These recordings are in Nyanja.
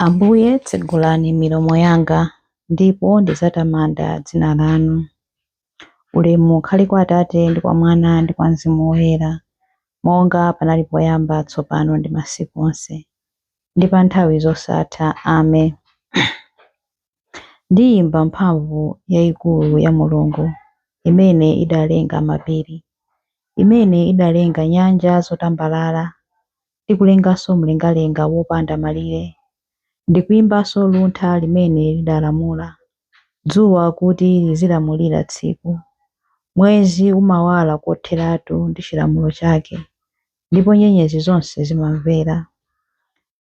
Ambuye, tsegulani milomo yanga ndipo ndidzatamanda dzina lanu. Ulemu ukhale kwa Atate ndi kwa Mwana ndi kwa Mzimu Woyera, monga panali poyamba, tsopano ndi masiku onse, ndi pa nthawi zosatha. Ame. Ndiyimba mphamvu yayikulu ya Mulungu, imene idalenga mapiri, imene idalenga nyanja zotambalala, ndi kulenganso mlengalenga wopanda malire, ndikuimbanso luntha limene lidalamula dzuwa kuti lizilamulira tsiku, mwezi umawala kotheratu ndi chilamulo chake, ndipo nyenyezi zonse zimamvera,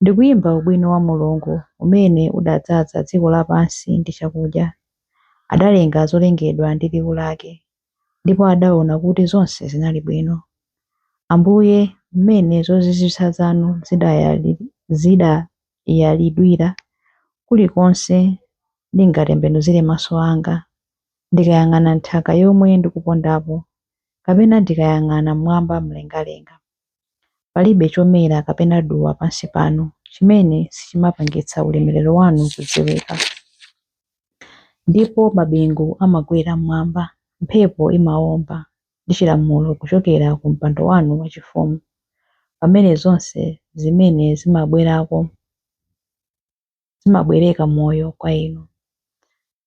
ndikuimba ubwino wa Mulungu umene udadzaza dziko lapansi ndi chakudya, adalenga zolengedwa ndi liwu lake, ndipo adaona kuti zonse zinali bwino. Ambuye, mmene zozizwitsa zanu zidayalidwira, kulikonse ndingatembenuzire maso anga, ndikayang'ana nthaka yomwe ndikupondapo, kapena ndikayang'ana m'mwamba mlengalenga. Palibe chomera kapena duwa pansi pano chimene sichimapangitsa ulemerero wanu kudziwika. Ndipo mabingu amakwera m'mwamba, mphepo imawomba ndi chilamulo kuchokera ku mpando wanu wachifumu, pamene zonse zimene zimabwerako zimabwereka moyo kwa inu.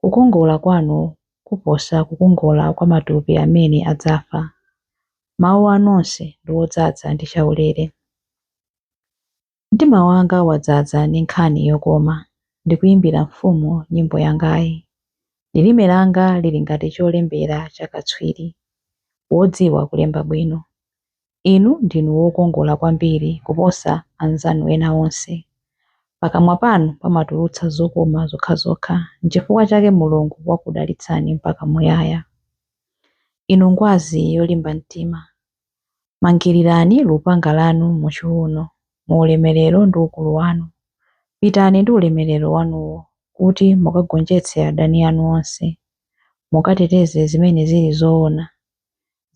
Kukongola kwanu kuposa kukongola kwa matupi amene adzafa. Mawu anu onse ndi odzaza ndi chaulere. Mtima wanga wadzadza ndi nkhani yokoma, ndikuimbira mfumu nyimbo yangayi. Lilime langa lili ngati cholembera cha katswiri, wodziwa kulemba bwino. Inu ndinu wokongola kwambiri kuposa anzanu ena onse. Pakamwa panu pamatulutsa zokoma zokhazokha, n'chifukwa chake Mulungu wakudalitsani mpaka muyaya. Inu ngwazi yolimba mtima, mangirirani lupanga lanu muchiuno mu ulemerero ndi ukulu wanu. Pitani ndi ulemerero wanuwo kuti mukagonjetse adani anu onse, mukateteze zimene zili zoona.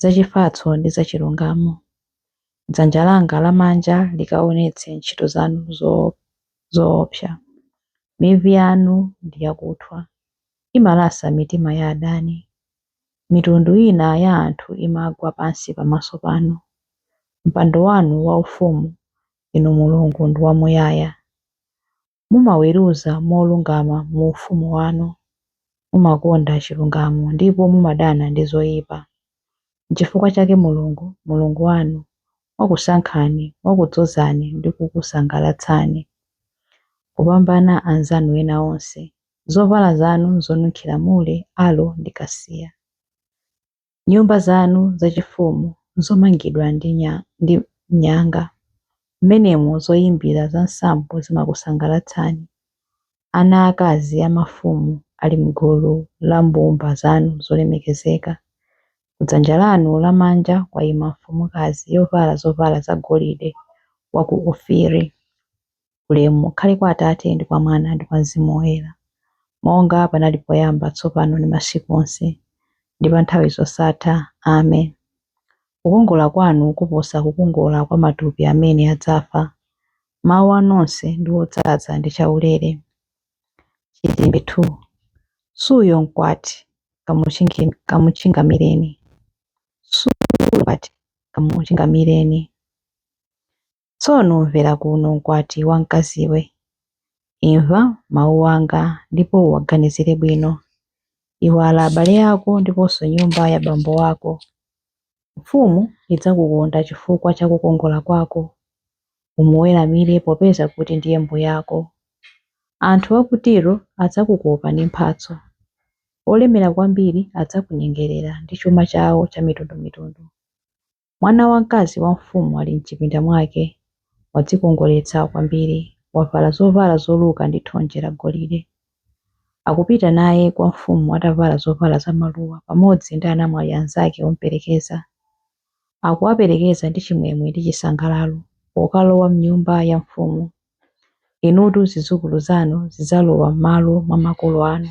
zachifatso ndi zachilungamo, dzanja langa lamanja likaonetse ntchito zanu zoopsa. Mivi yanu ndi yakuthwa, imalasa mitima ya adani. Mitundu ina ya anthu imagwa pansi pamaso panu. Mpando wanu waufumu, Inu Mulungu, ndi wamuyaya. mumaweruza molungama mu ufumu wanu. Mumakonda chilungamo ndipo mumadana ndi zoyipa. N'chifukwa chake Mulungu, Mulungu wanu, wakusankhani, wakudzozani ndi kukusangalatsani kupambana anzanu ena onse. Zovala zanu zonunkhira mure, alo ndi kasiya. Nyumba zanu zachifumu zomangidwa ndi nyanga. Mmenemo zoyimbira za nsambo zimakusangalatsani. Ana aakazi a mafumu ali m'gulu la mbumba zanu zolemekezeka. Kudzanja lanu lamanja kwayima mfumukazi yovala zovala zagolide wa ku Ofiri. Ulemu ukhale kwa Atate, ndi kwa Mwana, ndi kwa Mzimu Woyera, monga panali poyamba, tsopano, ndi masiku onse, ndi pa nthawi zosatha. Amen. Kukongola kwanu kuposa kukongola kwa matupi amene adzafa. Mawu anu onse ndi odzaza ndi chaulere. Chilimbi 2. Suyo, mkwati, kamuchingamireni. Suyo, mkwati, kamuchingamireni. Tsono mvera kuno mkwati wamkaziwe. Imva mawu anga ndipo uwaganizire bwino. Iwala abale ako ndiponso nyumba ya bambo wako. Mfumu idzakukonda chifukwa cha kukongola kwako. Umuweramire popeza kuti ndiye mbuyako. Anthu a ku Tiro adzakukopa ndi mphatso. Olemera kwambiri adzakunyengerera ndi chuma chawo chamitundumitundu. Mwana wamkazi wa mfumu ali m'chipinda mwake, wadzikongoletsa kwambiri, wavala zovala zoluka ndi thonje lagolide. Akupita naye kwa mfumu atavala zovala zamaluwa pamodzi ndi anamwali anzake omuperekeza. Akuwaperekeza ndi chimwemwe ndi chisangalalo pokalowa m'nyumba ya mfumu. Inutu zidzukulu zanu zidzalowa m'malo mwa makolo anu.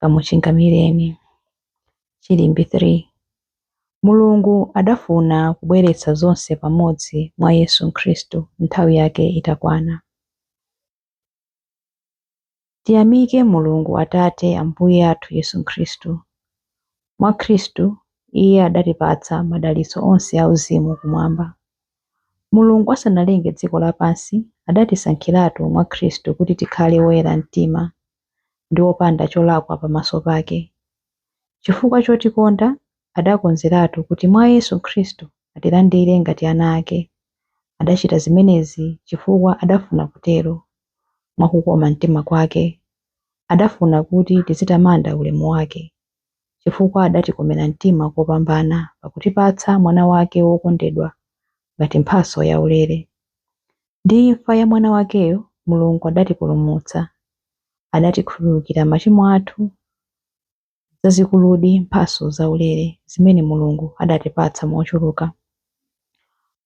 kamuchingamireni. Chilimbi 3. Mulungu adafuna kubweretsa zonse pamodzi mwa Yesu Khristu nthawi yake itakwana. Tiyamike Mulungu Atate Ambuye athu Yesu Khristu. Mwa Khristu, Iye adatipatsa madalitso onse auzimu kumwamba. Mulungu asanalenge dziko lapansi, adatisankhiratu mwa Khristu kuti tikhale oyera mtima ndi opanda cholakwa pamaso pake. Chifukwa chotikonda, adakonzeratu kuti mwa Yesu Khristu atilandire ngati ana ake. Adachita zimenezi chifukwa adafuna kutero, mwa kukoma mtima kwake. Adafuna kuti tizitamanda ulemu wake. chifukwa adatikomera mtima kopambana pakutipatsa Mwana wake wokondedwa ngati mphatso yaulere. Ndi imfa ya Mwana wakeyo, Mulungu adatipulumutsa. Adatikhululukira machimo athu. Nzazikuludi mphatso zaulere zimene Mulungu adatipatsa mochuluka!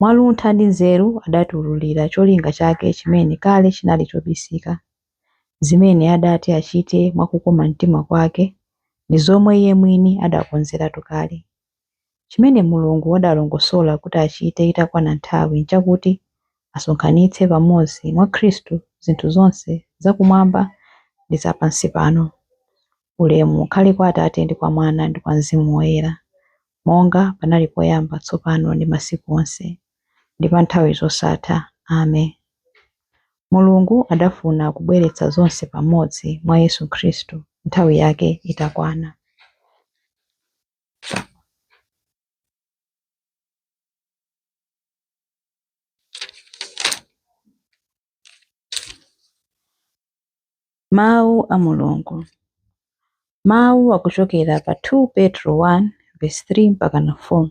Mwa luntha ndi nzeru adatiwululira cholinga chake chimene kale chinali chobisika. zimene adati achite mwa kukoma mtima kwake ndi zomwe iye mwini adakonzeratu kale. Chimene Mulungu adalongosola kuti achite itakwana nthawi nchakuti asonkhanitse pamodzi mwa Khristu zinthu zonse zakumwamba ndi zapansipano. Ulemu ukhale kwa Atate ndi kwa Mwana ndi kwa Mzimu Woyera. monga panali poyamba, tsopano, ndi masiku onse, ndi pa nthawi zosatha. Amen. Mulungu adafuna kubweretsa zonse pamodzi mwa Yesu Khristu nthawi yake itakwana. Mawu a Mulungu. Mawu akuchokera pa 2 Petro 1 vesi 3 mpakana 4.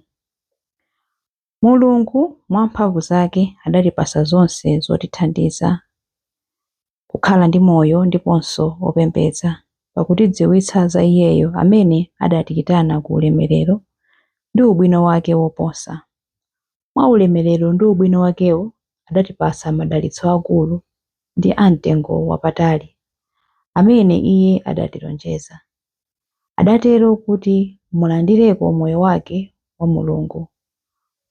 Mulungu mwa mphamvu zake adatipasa zonse zotithandiza kukhala ndi moyo ndiponso opembedza, pakutidziwitsa za Iyeyo amene adatiyitana ku ulemerero ndi ubwino wake woposa. Mwa ulemerero ndi ubwino wakewo, adatipasa madalitso akulu ndi a mtengo wapatali, amene Iye adatilonjeza. Adatero kuti mulandireko moyo wake wa Mulungu,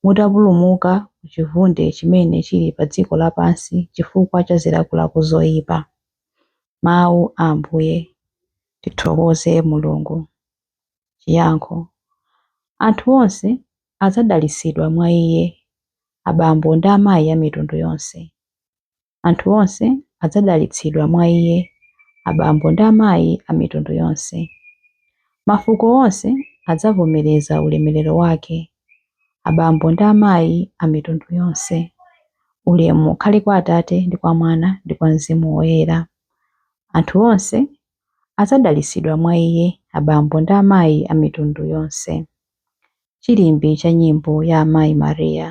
mutapulumuka ku chivunde chimene chili pa dziko lapansi chifukwa cha zilakolako zoipa. Mawu a Ambuye. Tithokoze Mulungu. Chiyankho, Anthu onse adzadalitsidwa mwa iye, abambo ndi amayi a mitundu yonse. Anthu onse adzadalitsidwa mwa iye, abambo ndi amayi a mitundu yonse. Mafuko onse adzavomereza ulemerero wake, abambo ndi amayi a mitundu yonse. Ulemu ukhale kwa Atate ndi kwa Mwana ndi kwa Mzimu Woyera. Anthu onse adzadalitsidwa mwa iye abambo ndi amayi a mitundu yonse. Chilimbi cha nyimbo ya Amayi Maria.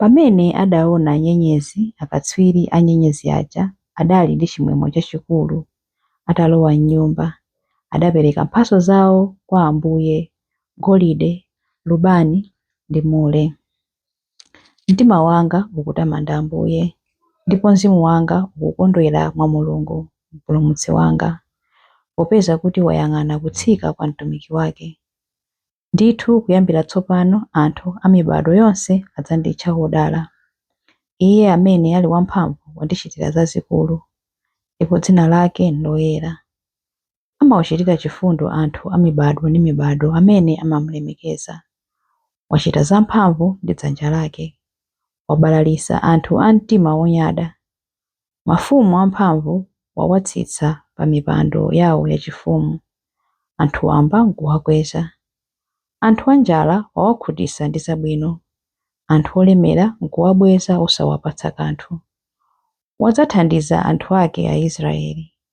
Pamene adaona nyenyezi akatswiri a nyenyezi aja adali ndi chimwemwe chachikulu. Atalowa m'nyumba, adapereka mphatso zawo kwa Ambuye, golide, lubani ndi mure. Mtima wanga ukutamanda Ambuye, ndipo mzimu wanga ukukondwera mwa Mulungu Mpulumutsi wanga, popeza kuti wayang'ana kutsika kwa mtumiki wake. Ndithu kuyambira tsopano anthu a mibadwo yonse adzanditcha wodala. Iye amene ali wamphamvu wandichitira zazikulu, ndipo dzina lake n'loyera. Amawachitira chifundo anthu a mibadwo ndi mibadwo amene amamulemekeza. Wachita zamphamvu ndi dzanja lake. Wabalalitsa anthu a mtima wonyada. Mafumu amphamvu wawatsitsa pamipando yawo yachifumu, anthu wamba n'kuwakweza. Anthu anjala wawakhutitsa ndi zabwino, anthu olemera n'kuwabweza osawapatsa kanthu. Wadzathandiza anthu ake Aisiraeli.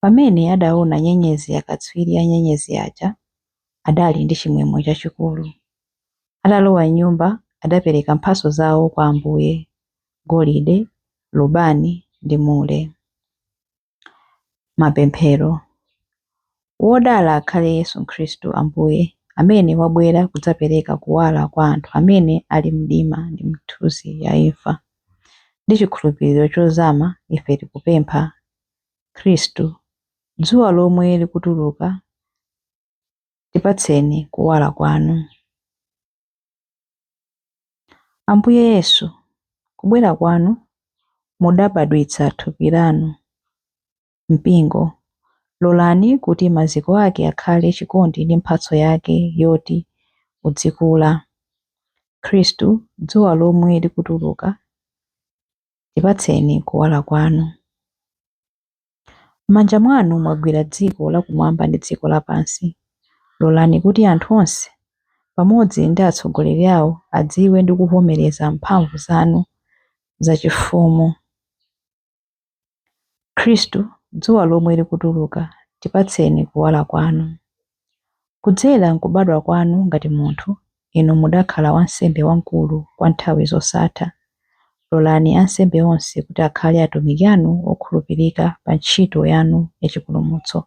Pamene adaona nyenyezi akatswiri a nyenyezi aja adali ndi chimwemwe chachikulu. Atalowa m'nyumba adapereka mphatso zawo kwa Ambuye, golide, lubani ndi mure. Mapemphero Wodala akhale Yesu Khristu Ambuye, amene wabwera kudzapereka kuwala kwa anthu amene ali m'mdima ndi m'mthunzi ya imfa. Ndi chikhulupiriro chozama ife tikupempha, Khristu, dzuwa lomwe likutuluka, tipatseni kuwala kwanu. Ambuye Yesu, kubwera kwanu mudabadwitsa thupi lanu. mpingo. Lolani kuti maziko ake akhale chikondi ndi mphatso yake yoti uzikula. Khristu, dzuwa lomwe likutuluka, tipatseni kuwala kwanu. M'manja mwanu mwagwira dziko lakumwamba ndi dziko lapansi. Lolani kuti anthu onse, pamodzi ndi atsogoleri awo, adziwe ndi kuvomereza mphamvu zanu zachifumu. Khristu, dzuwa lomwe likutuluka, tipatseni kuwala kwanu. Kudzera m'kubadwa kwanu ngati munthu, inu mudakhala wansembe wamkulu kwa nthawi zosatha. Lolani ansembe onse kuti akhale atumiki anu okhulupirika pa ntchito yanu ya chipulumutso.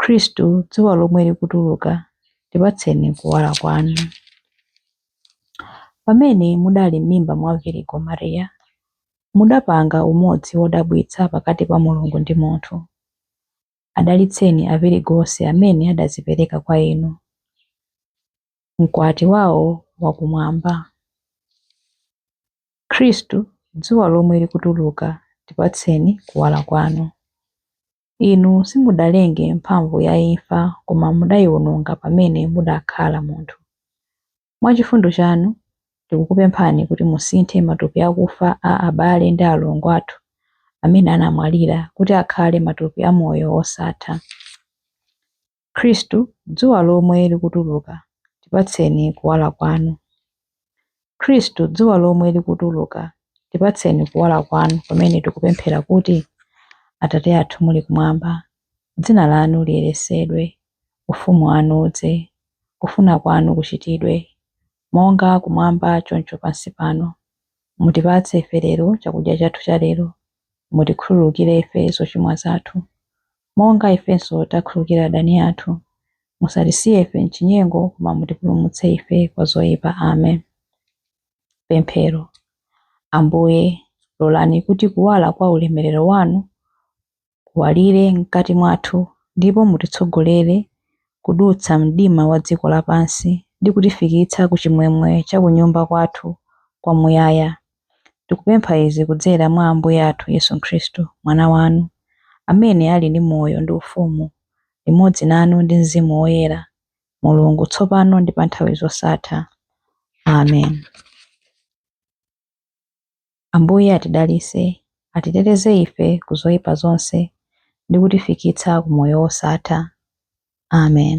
Khristu, dzuwa lomwe likutuluka, tipatseni kuwala kwanu. Pamene mudali m'mimba mwa Virigo Maria, mudapanga umodzi wodabwitsa pakati pa Mulungu ndi munthu. Adalitseni avirigo onse amene adadzipereka kwa inu, mkwati wawo wakumwamba. Khristu, dzuwa lomwe likutuluka, tipatseni kuwala kwanu. Inu simudalenge mphamvu ya imfa koma mudaiwononga pamene mudakhala munthu. Mwa chifundo chanu, tikukupemphani kuti musinthe matupi akufa a abale ndi alongo athu amene anamwalira kuti akhale matupi a moyo wosatha. Khristu, dzuwa lomwe likutuluka, tipatseni Kuwala Kwanu. Khristu, dzuwa lomwe likutuluka, tipatseni Kuwala Kwanu pamene tikupemphera kuti, Atate athu muli Kumwamba, Dzina Lanu liyeresedwe, Ufumu Wanu udze, Kufuna Kwanu kuchitidwe, monga Kumwamba choncho pansi pano. Mutipatse ife lero chakudya chathu chalero, Mutikhululukire ife zochimwa zathu, monga ifenso takhululukira adani athu. Musatisiye ife m'chinyengo, koma mutipulumutse ife kwa zoipa. Amen. Pemphero. Ambuye, lolani kuti kuwala kwa ulemerero wanu kuwalire mkati mwathu, ndipo mutitsogolere kudutsa mdima wa dziko lapansi ndi kutifikitsa ku chimwemwe cha kunyumba kwathu kwamuyaya. Tikupempha izi kudzera mwa Ambuye athu Yesu Khristu, Mwana wanu, amene ali ndi moyo ndi ufumu limodzi nanu ndi mzimu woyera, Mulungu, tsopano ndi mpa nthawi zosatha. Amen. Ambuye atidalitse, atiteteze ife ku zoyipa zonse ndi kutifikitsa ku moyo wosatha. Amen.